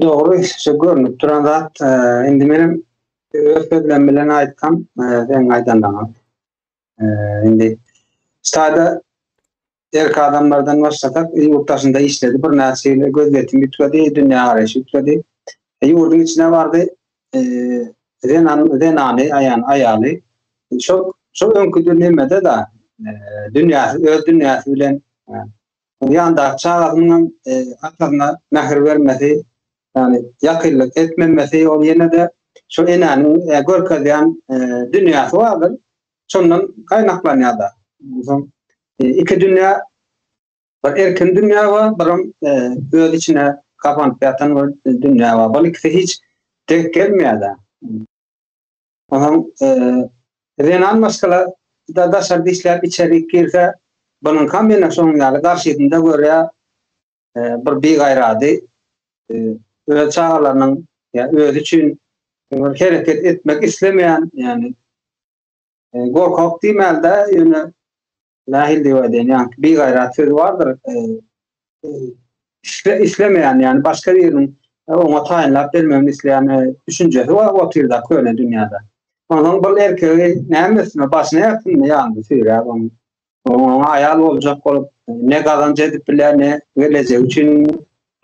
Dogry, şu görnüp duran zat, e, indi menem öz sözlerim bilen aýtsam, e, sen aýdanlaryňa. E, indi şaýda erk adamlardan başlasak, ýurt daşynda işledi, bir näçe ýyl gözýetim ýükledi, dünýä garaýşy ýükledi. E, ýurduň içine bardy, e, zenan, zenany, aýan, aýaly, şol, şol öňküdir nemede da, e, dünýäsi, öz dünýäsi bilen, e, Ýandaky çagasynyň hem atasyna mähir bermesi, ýagny ýakynlyk etmemesi ol ýene-de şo enäniň görkezýän dünýäsi bardyr. Şondan gaýnaklanýar-da. Onsoň iki dünýä, bir erkin dünýä bar, bir hem öz içine gapanyp ýatan bir dünýä bar. Bul ikisi hiç denk gelmeýär-de. Onam zenan maşgala da daşary dişläp içerik girse bunuňkam mena şonuň ýaly garşysynda görýä bir bigaýrady öz çagalarynyň ýa özi üçin bir hereket etmek islemeýän ýani gorkak diýmäldä ýöne Nähil diýip aýdaýyn, ýaňky bigaýrat sözi bardyr. E, e, isle, islemeýän, ýani başga biriniň e, oňa taýynlap bermegini isleýän e, düşünjesi bar otyrda köne dünýäde. Ondan bir erkegi näme üstüne başyna ýapynmy ýandy süýräp onuň. Oňa aýal boljak bolup, ne gazanç edip bilýär, ne gelejek üçin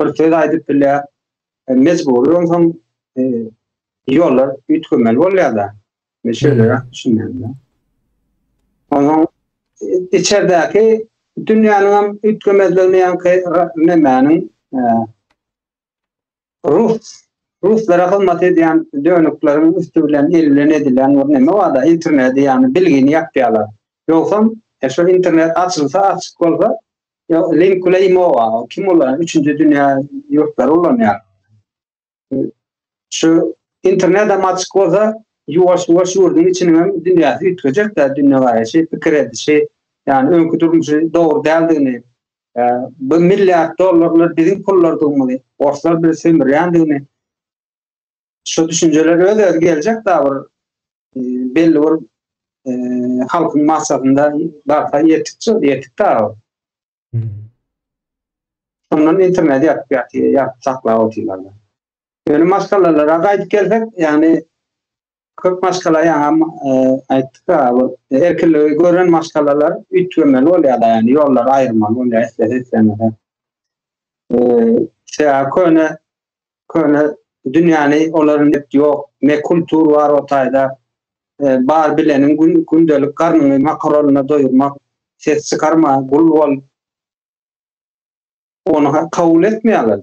bir söz aýdyp bilýär. E, mejbury onsoň e, ýollar üýtgemeli bolýar-da. Meşele ýat düşünmedi. Onu içerdeki dünýäniň hem üýtgemezligini ýaňky nemäniň rus ruslara hyzmat edýän dönükleriň üsti bilen el bilen edilen bir neme bar-da interneti ýagny bilgini ýapýarlar. Ýogsam e, şu internet açylsa açyk bolsa link bilen imo bar. Kim ulanýar? Üçünji dünýä ýurtlary ulanýar. Şu internet hem açyk bolsa, ýuwaş-ýuwaş ýurduň içiniň hem dünýäsi üýtgejek-dä, dünýägaraýşy, pikir edişi, ýagny öňki durmuşy dogry däldigini, bu milliard dollarlar biziň pullardygymyzy, orslar bizi sömürýändigini, şu düşünjeler öz-özi geljek-dä bir belli bir halkyň massasynda barha ýetikje, ýetik-dä. Şondan internet ýatyp ýatyr, ýatyp saklap otyrlar. Ýöne maşgalalara gaýdyp gelsek, ýagny köp maşgala ýaňam e, aýtdyk-a, erkinligi gören maşgalalar üýtgemeli bolýarlar, ýagny ýollary aýyrmaly bolýar, islese islemese. E, Şeýle köne Köne dünýäni olar net ýok, ne kultur bar o taýda. Bar bileniň gündelik garnyňy makaronna doýurmak. Ses çykarma, gul bol. Ony kabul etmeýärler-de.